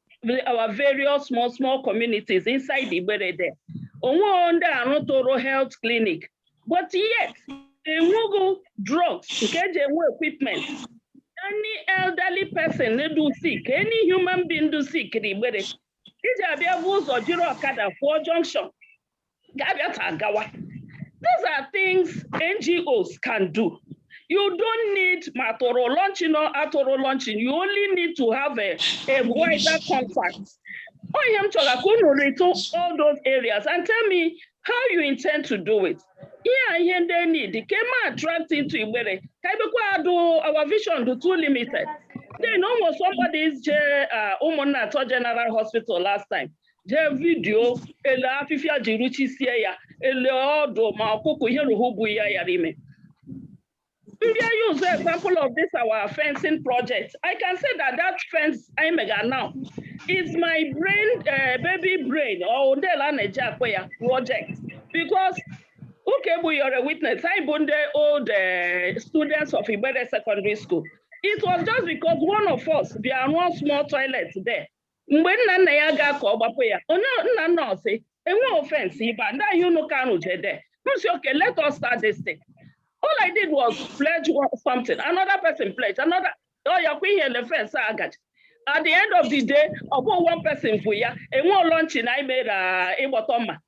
our various small small communities inside Igbere there onwe ndị arụtụrụ health clinic but yet enweghị drugs nke eji enwe equipment any elderly person dụ sick any human being dụ sick na Igbere iji abịa bu ụzọ jiri ọkada fụọ junction ga-abịata agawa these are things ngos can do you don't need ma atụrụ launching or atụrụ launching you only need to have a, a wider contact ọ ihe m chọrọ ka unu rụtụ all those areas and tell me how you intend to do it ihe a ihe ndị need ka eme attract into igbere ka ebekwa adụ our vision dụ too limited then almost somebody je uh, Ụmụnnatọ general hospital last time jee video ele afịfịa ji ruchisie ya ele ọ dụ ma ọkụkọ ihe rụhụ bụ ya yara ime ndị anyị use example of this our fencing project i can say that that fence anyị mega now is my brain uh, baby brain or ndị a na-eji akpọ ya project because ụka egbu you are a witness anyị bụ ndị old uh, students of Igbere secondary school it was just because one of us bịa rụọ small toilet there mgbe nna nna ya ga ka ọ gbapụ ya onye nna nna ọsị enweghị fence ibe a ndị ahịa unu ka rụjede m sị okay let us start this thing all i did was pledge something another person pledge another ọ ya kwa ihe le fence a gaji at the end of the day ọ bụghị one person vu ya e nwe launching anyị mere ịgbọtọ mma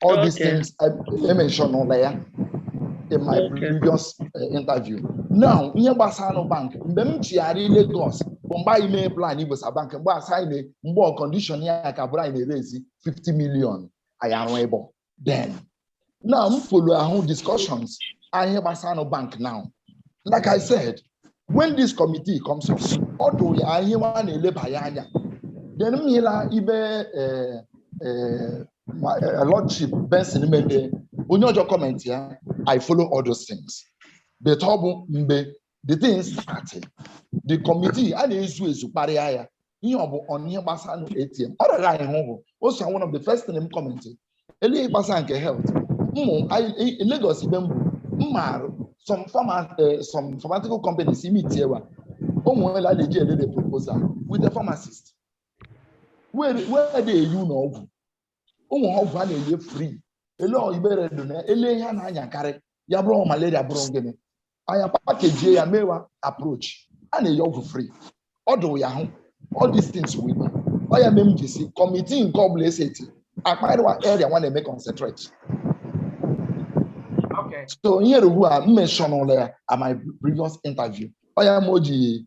all these Okay. things I I mentionụla ya in my Okay. previous uh, interview. Now, ihe gbasanụ bank, mgbe m chigharị Lagos bụ mgbe anyị mee plan ibusa bank, mgbe a sị anyị na- mgbe ọ condition ya ka bụrụ anyị raise 50 million anyị arụ ịbọ. Then, now m follow ahụ discussions ihe gbasanụ bank now. Like I said, when this committee comes up, ọ dụ ya ihe nwa na-eleba ya anya. Then m hịla ibe eh, eh, my eh, lordship Benson mede onye ọzọ comment ya i follow all those things but ọ bụ mgbe the thing started the committee a na-ezu ezu kparịa ya ihe ọ bụ ọnụ ihe gbasanụ ATM ọ rịara anyị hụ bụ o so one of the first thing m comment le ihe gbasara nke health ụmụ anyị- i- i- Lagos ibe mbụ mma arụ some pharma eh, some pharmaceutical companies i meetie wa o nwere a na-eji elele proposal with the pharmacist wee na-enye ụlọ ọgwụ o nwe ọgwụ a na-enye free ele Igbere dụ na ele ihe a na-anyakarị ya bụrụ malaria bụrụ gịnị anyị apakejie ya mewa approach a na-enye ọgwụ free ọ dụ ya hụ all these things wee ọ ya mee m ji sị committee nke ọbụla eseti akparịwa area nwa na-eme concentrate so ihe rugbu a m mentionụla ya at my previous interview ọ ya ma o ji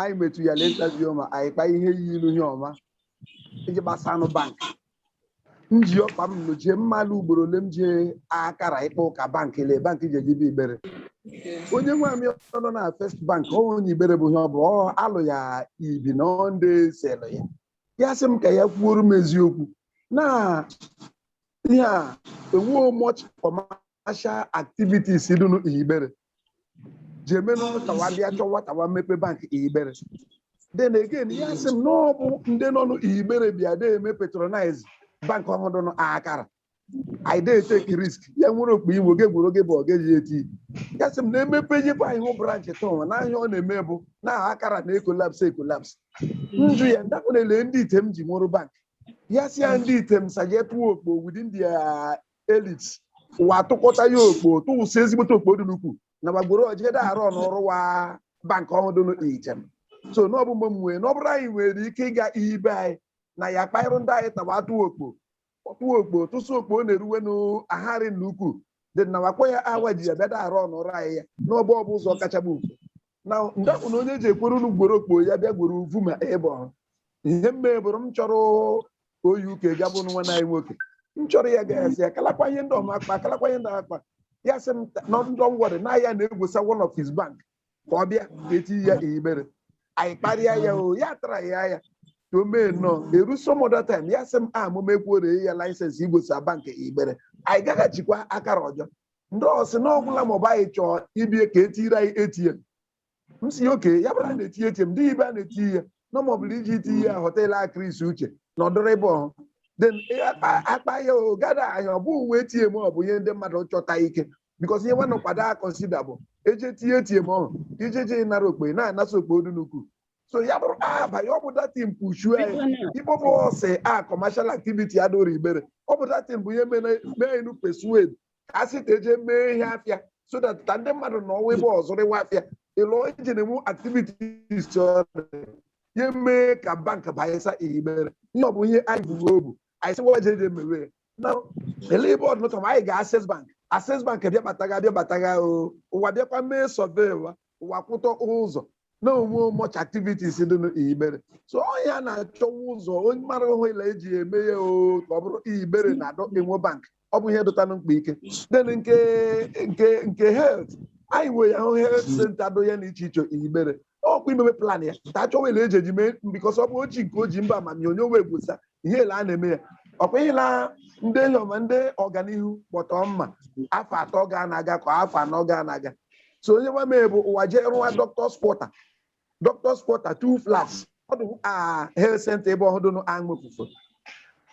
anyị metu ya na interview ma anyị kpaa ihe yi ilu ihe ọnwa iji gbasanụ bank m ji ọkpa m nụ jee mmalụ ugboro ole m jee Akara ịkpa ụka bank ele bank ji ejibe Igbere onye nwe amị ọ nọ na First Bank ọ onye Igbere bụ ihe ọ bụ ọ alụ ya ibi na ọ ndị selụ ya ya sị m ka ya kwuoro m eziokwu na ihe a enweghị much for commercial activities dị nụ Igbere ji eme na ọnụ tawa bịa chọwa tawa mepe bank Igbere then again ya sị m na ọ bụ ndị nọ n'Igbere bịa de eme patronize bank ọhụrụ dị nụ Akara anyị dey take risk ya nwere okpo iwu oge gwuru oge bụ ọ ga-eji eti ya sị m na emepe nyekwa anyị hụ branch tọnwa na ahịa ọ na-eme bụ na aha Akara na ekolaps ekolaps njụ ya ndakwa na-ele ndị Item ji nwere bank ya si ya ndị Item saje tụọ okpo within their elites wa tụkọta ya okpo tụwụsị ezigbote okpo dị n'ukwu na gbagoro ojigede arụ n'ọrụ wa bank ọhụrụ dị n'Item so na ọ bụ mgbe mwe na ọ bụrụ anyị nwere ike ịga ibe anyị na ya kpaịrụ ndị anyị tawa atụ okpo ọtụ okpo tụsụ okpo ọ na-eruwe n'ahari na ukwu dị na wakwa ya awa ji ya bịada arụ ọnụrụ anyị ya na ọ bụ ọ bụ ụzọ kacha bụ mfe na ndapụ na onye ji ekwere unu gworo okpo ya bịa gworo uvu ma ebe ọhụ ihe mme bụrụ m chọrọ oyi uke ga bụ nwa anyị nwoke m chọrọ ya ga asị ya kalakwa ihe ndị ọma akpa kalakwa ihe ndị akpa ya sị m na ndị ọngwọrị na ya na-egwusa one of his bank ka ọ bịa eti ya Igbere anyị kparịa ya o ya tara ya ya to mee nnọọ eru some other time ya sị m a mụ mekwuore ya laịsensị igwusa bank Igbere anyị gaghachikwa Akara ọjọ ndị ọsị na ọgwụla maọbụ anyị chọọ ibie ka etiri anyị ATM m si ya okay ya bụrụ a na-eti ATM dị ebe a na-eti ihe na ma ọ bụrụ iji iti ihe họteelụ Chris Uche na ọdụrụ ebe ọhụ then eh, akpa- akpa ya o gada ahịa ọ bụ uwe ATM ọ bụ ihe ndị mmadụ chọta ike because ihe nwanne kwado a consider bụ eje tie ATM ọhụ ije je ịnara okpo na-anasa okpo ọdụ n'ukwu so ya bụrụ abanye ọ bụ datin pushu anyị Biko na- Igbo bụ ọsị a commercial activity adụrụ Igbere ọ bụ datin bụ ihe mere mee enu persuade ka a sị ka eje mee ihe afịa so that ka ndị mmadụ na ọnwa ebe ọ zụrịwa afịa ịlụ iji na-enwe activities ọ dị. ya mee ka bank banyesa Igbere ihe ọ bụ ihe anyị bụ obu anyị sị wa jeje mewe ya. na ele ebe ọdụ nọtọ ma anyị ga Access Bank Access Bank bịabataga bịabataga o ụwa bịakwa mee survey wa ụwa kwụtọ ụzọ na enwe much activities dị n'Igbere so ọ ya na-achọwa ụzọ onye mara hụ ile eji eme ya o ka ọ bụrụ Igbere na-adọ enwe bank ọ bụ ihe dụtanụ mkpa ike then nke nke nke health anyị nwere ya hụ health center dụ ya na iche iche Igbere ọkwa imebe plan ya ta achọwa ile eji eji mee because ọ bụ oji nke oji mba amamihe onye onwe egwosa ihe ele a na-eme ya ọkwa ihe na ndị enyi ọma ndị ọganihu gbọtọ mma afọ atọ ga na-aga ka afọ anọ ga na-aga so onye nwa mee bụ ụwa jee rụwa dọkịta spọta dọkịta spọta tu flas ọdụ a health center ebe ọhụrụ nụ aṅụfufe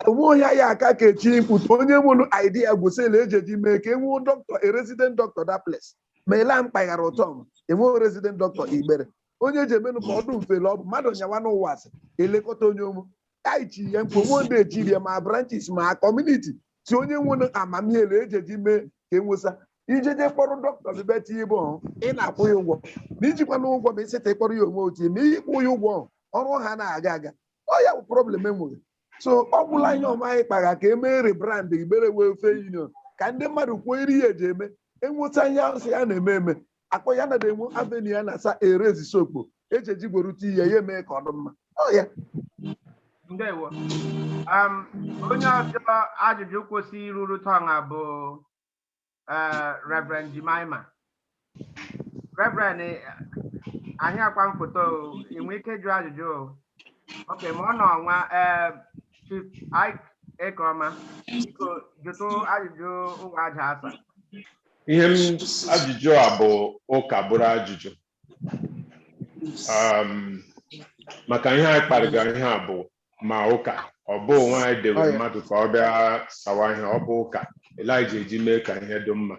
onwe onye ya aka ka echi mkputu onye nwere idea gwụsịla eji eji mee ka enwee doctor a resident doctor that place ma ele a mkpaghara ụtọ m enweghị resident doctor Igbere onye eji emenụ ka ọdụ mfele ọ bụ mmadụ nyawa n'ụwa asị elekọta onye ụmụ anyị chi ihe mkpo nwe ndị echiri ma branches ma community si onye nwere amamihe na ejeji mee ka enwesa ijeje kpọrọ dọkịta bịa tinye ebe ọhụ ị na-akwụ ya ụgwọ na ijikwa na ụgwọ ma ịsịta ịkpọrọ ya onwe otu ma ịkwụ ya ụgwọ ọhụ, ọrụ ha na-aga aga ọ ya bụ problem e nwere so ọ gwụla ihe ọma anyị kpara ka e mee rebrand igbere welfare union ka ndị mmadụ kwuo iri ya eji eme enwesa ihe ahụ sị ya na-eme eme akpọ ya nada enwe avenue a na-asa erezi sokpo eji eji gwerute ihe ya emee ka ọ dị mma Ọ ya ndewo um, onye ọzọ ajụjụ kwesị iruru turn a bụ eh, reverend jemima reverend eh, anyị akwa m foto o, ị nwee ike jụ ajụjụ o okay ma ọ nọ ọnwa eh, chief Ike Ekeọma biko jụtụ ajụjụ ụwa a ja-asa ihe m ajụjụ a bụ ụka bụrụ ajụjụ Um, maka ihe anyị kparịga ihe a bụ ma ụka ọ bụ onwe anyị dewe mmadụ ka ọ bịa sawa ihe ọ bụ ụka elija eji mee ka ihe dị mma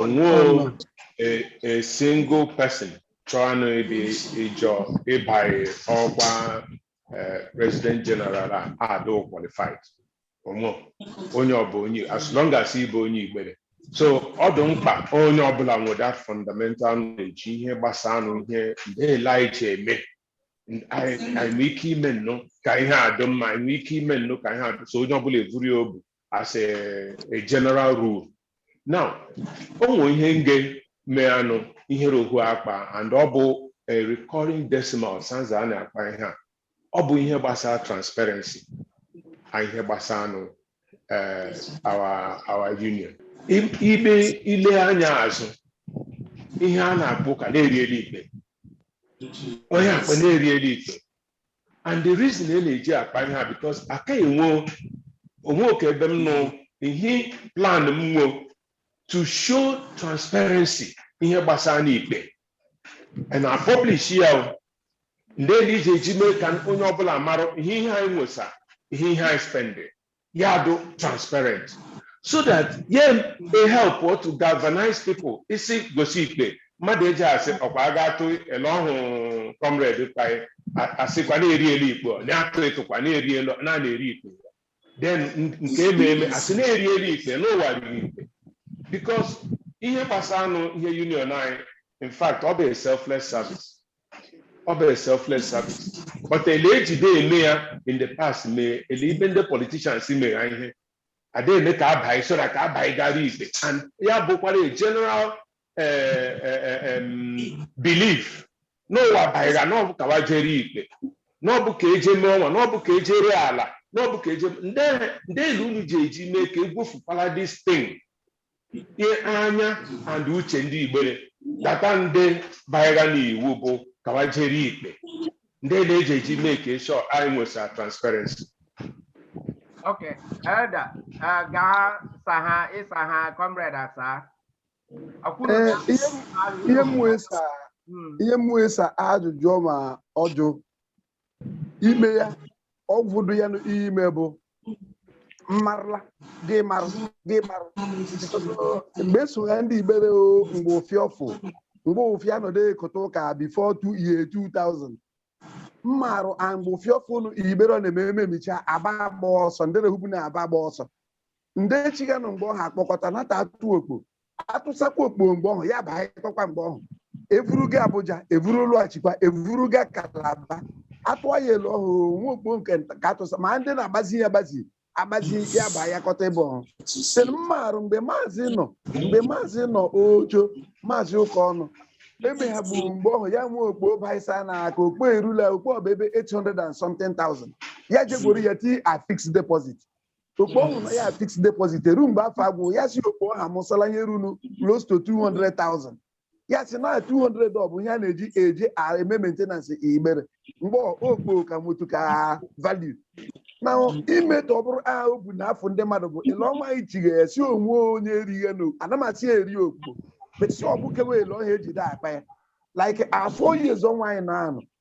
onwe a, a single person chọọ anụ ịdị ịjọ ịbanye ọkwa eh, president general a adụ qualified onwe onye ọbụ onye as long as ị bụ onye igbere so ọ dị mkpa onye ọbụla nwere that fundamental knowledge ihe gbasara nụ ihe ndị elije eme N- anyị anyị nwee ike ime nnụ ka ihe a dị mma anyị nwee ike ime nnụ ka ihe a dị so onye ọbụla evuru obu as a, a general rule now o nwere ihe nge mee anụ ihere ohu akpa and ọ bụ a recurring decimal sanza a na-akpa ihe a ọ bụ ihe gbasara transparency na ihe gbasara anụ eh, our our union I- ile ile anya azụ ihe a na-akpa ụka na-eri elu ikpe onye akpa na-eri elu ikpe and the reason e na-eji akpa ihe a because aka enwe onwe okay ebe m nọ ihe plan m nwe to show transparency ihe gbasara n'ikpe and na publish ya o ndị elije eji mee ka onye ọbụla mara ihe ihe anyị nwesa ihe ihe anyị spend ya adụ transparent so that ya e help to galvanize people isi gosi ikpe mmadụ eji asị ọkwa a ga-atụ ele ọhụụ comrade kpaị asịkwa na-eri elu ikpe ọ na-atụ ịtụkwa na-eri elu na na-eri ikpe then n- nke eme eme asị na-eri elu ikpe n'ụwa erihị ikpe because ihe gbasara anụ ihe union anyị in fact ọ bụ a selfless service ọ bụ selfless service but ele ejide eme ya in the past mee ele ibe ndị politicians mere ha ihe ada eme ka abaghị so that ka abaghị gara ikpe and ya bụkwara a general eh, eh, eh, em, belief n'ụwa baịra na ọbụ ka wa jere ikpe na ọbụ ka eje mee ọnwa na ọbụ ka eje ree ala na ọbụ ka eje ndị ndị elu unu ji eji mee ka egwofukwala this thing ihe anya and uche ndị igbere data ndị baịra n'iwu bụ ka wa jere ikpe ndị na-eji eji make sure anyị nwesa transparency okay elder eh, gaa sa ha ịsa ha comrade asaa Akwụna- Ee, ihe m- ihe m wee sa Mm, ihe m wee sa ajụjụ ma ọjụ ime ya ọgwụ dị ya n'ime bụ m marla gị marụ gị marụ mgbe eso ya ndị igbere o mgbe ofiavu mgbe ụfịa nọdụ ekote ụka before the year 2000 m marụ a mgbe ofiavu nụ igbere ọ na-eme ememicha aba agba ọsọ ndị na-ehubu n'aba agba ọsọ ndị chiganụ mgbe ọha akpọkọta nata atụ okpo atụsakwa okpo mgbe ọhụ ya baịkọkwa mgbe ọhụ evuru ga abuja evuru lọghachikwa evuru ga kalaba atụọ ya elu ọhụ nwa okpo nke nta ka atụsa ma ndị na-agbazi ya agbazi agbazi ya bụ ayakọta ebe ọhụ sị na m marụ mgbe maazị nọ mgbe maazị nọ ojo maazị ụka ọnụ ebe ha gburu mgbe ọhụ ya nwe okpo baisa na aka okpo erula okpo ọba ebe 800 and something thousand ya jegworo ya tia fixed deposit okpo ọhụ nọ ya fixed deposit ruo mgbe afọ agwụ ya si okpo ọha mụsala nye runu close to 200,000 ya si na 200 ọ bụ ihe a na-eji eji a- eme maintenance igbere mgbe ọ- okpo ka nwetu ka value na imetọ ọ bụrụ a obu na afọ ndị mmadụ bụ ele ọma ichigha ya si onwe onye erighe na ana m asị ya eri okpo besi ọbụkewe ele ọha ejide akpa ya like four years ọnwa anyị na-anọ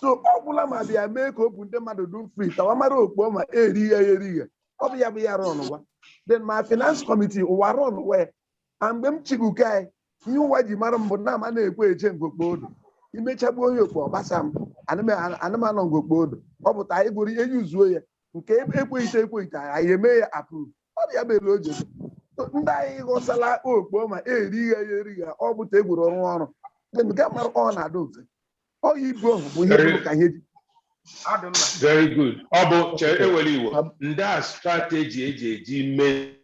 so ọ gwụla ma bịa mee ka obu ndị mmadụ dum free that wa mara okpo ma eri ya eri ya ọ bụ ya bụ ya rọn gwa then ma finance committee ụwa rọn gwa ya na mgbe m chiguke anyị ihe ụwa ji mara m bụ na ama na-ekwe eche ngokpo odo imechagbu onye okpo ọgbasa m anụmanụ ngokpo odo ọ pụta anyị gụrụ ihe yuzuo ya nke ekweghịte ekweghịte anyị eme ya approve ọ bụ ya bụ elu o je So, ndị anyị ghọsala okpo ma eri ya ya eri ya ọ bụta egwuru ọrụ ọrụ Then nke mara ọ na-adị mfe ọ ya ibu ọhụ bụ ihe Very- bụ ka ihe ji ọ dị mma very good ọ bụ chere ewere iwu Ab- ndị a strategy eji eji mee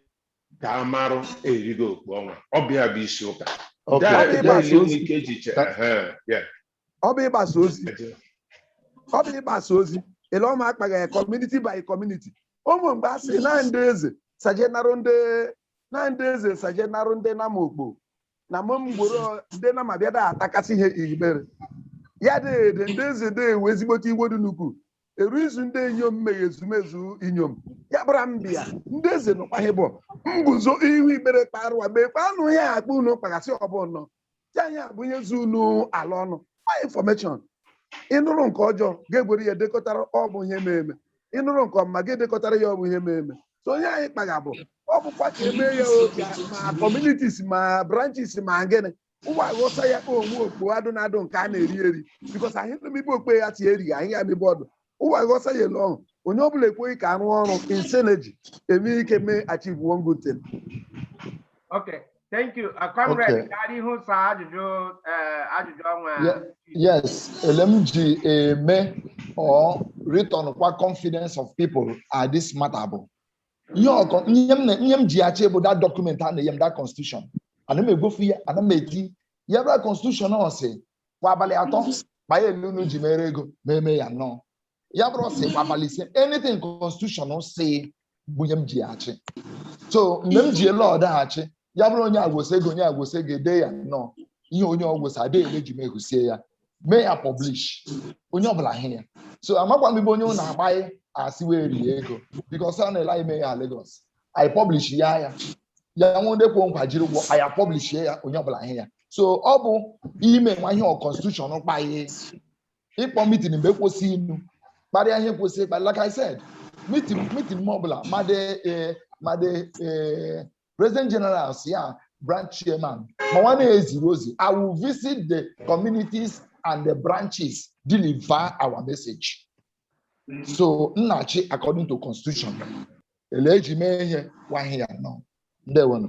ka a marụ erigo okpo ọnwa ọ bụ ya bụ isi ụka Okay. Daa- Ọ bụ ịgbasa daa ozi. ike ji chere Ka- ehe, ya. ọ bụ ịgbasa ozi ọ bụ ịgbasa ozi ele ọma akpagha ya community by community ụmụ mgbe a sị na ndị eze sajenarụ ndị na ndị eze sajenarụ ndị nama okpo na mụ mgboro ndị na mabịa da atakasị ihe Igbere ya dede ndị eze de ewe ezigbote iwe dị nnukwu eru izu ndị inyom meghe ezumezu inyom ya bụra mbịa ndị eze nọkwa ihe bụ mbuzo ihu Igbere kparụwa mekwa anụ ihe akpa unu kpagasị ọbụnọ ya anya bụ ihe zu unu ala ọnụ ma infọmeshọn ị nụrụ nke ọjọọ ga-egwere ya dekọtara ọ bụ ihe ma eme ị nụrụ nke ọma ga-edekọtara ya ọ bụ ihe ma eme so onye anyị kpaga bụ ọ bụkwa ka emee ya o, ka ma communities ma branches ma gịnị ụwa ghosa ya onwe okpo adụ na adụ nke a na-eri eri bikos anyị mebe okpe ya tie erighị anyị ya mebe ọdụ ụwa ghosa ya ele ọhụ onye ọbụla ekweghị ka arụ ọrụ in synergy enwe ike mee achieve one good thing Okay. Thank you. Uh, comrade, Okay. gaa n'ihu saa ajụjụ eh, ajụjụ ọnwa. Yeah. Yes, ele m ji eme or return kwa confidence of people at this matter bụ ihe ọkọ ihe m na- ihe m ji achị bụ that document a na-enye m that constitution ana m egbofu ya ana m eti ya bụ that constitution ọ sị kwa abalị atọ kpaa ya elu unu ji mere ego ma eme ya nnọọ ya bụrụ sị kwa abalị ise anything constitution sị bụ ihe m ji achị so mgbe m ji ele ọdaghachị ya bụrụ onye agwụsị ego onye agwụsị ego ede ya nnọọ ihe onye ọgwụsị adịghị ele ji m ehusie ya mee ya publish onye ọbụla hụ ya so amakwa m ibe onye ụlọ agbaghị asị wee rie ego bikos a na-ele anyị mee ya Lagos anyị publish ya ya ya nwe ndị kwe nkwa jiri ụgwọ anyị publish ya onye ọbụla hụ ya so ọ bụ ime nwa ihe ọ constitution kpaghị ịkpọ mitin mgbe e kwesị inu kparịa ihe kwesị ịkpa like I said mitin mitin m ọbụla madị eh, madị eh, president generals ya branch chairman ma nwa na-eziri ozi I will visit the communities and the branches deliver our message so Nnachi according to constitution ele eji mee ihe gwa ihe ya nọ ndewonụ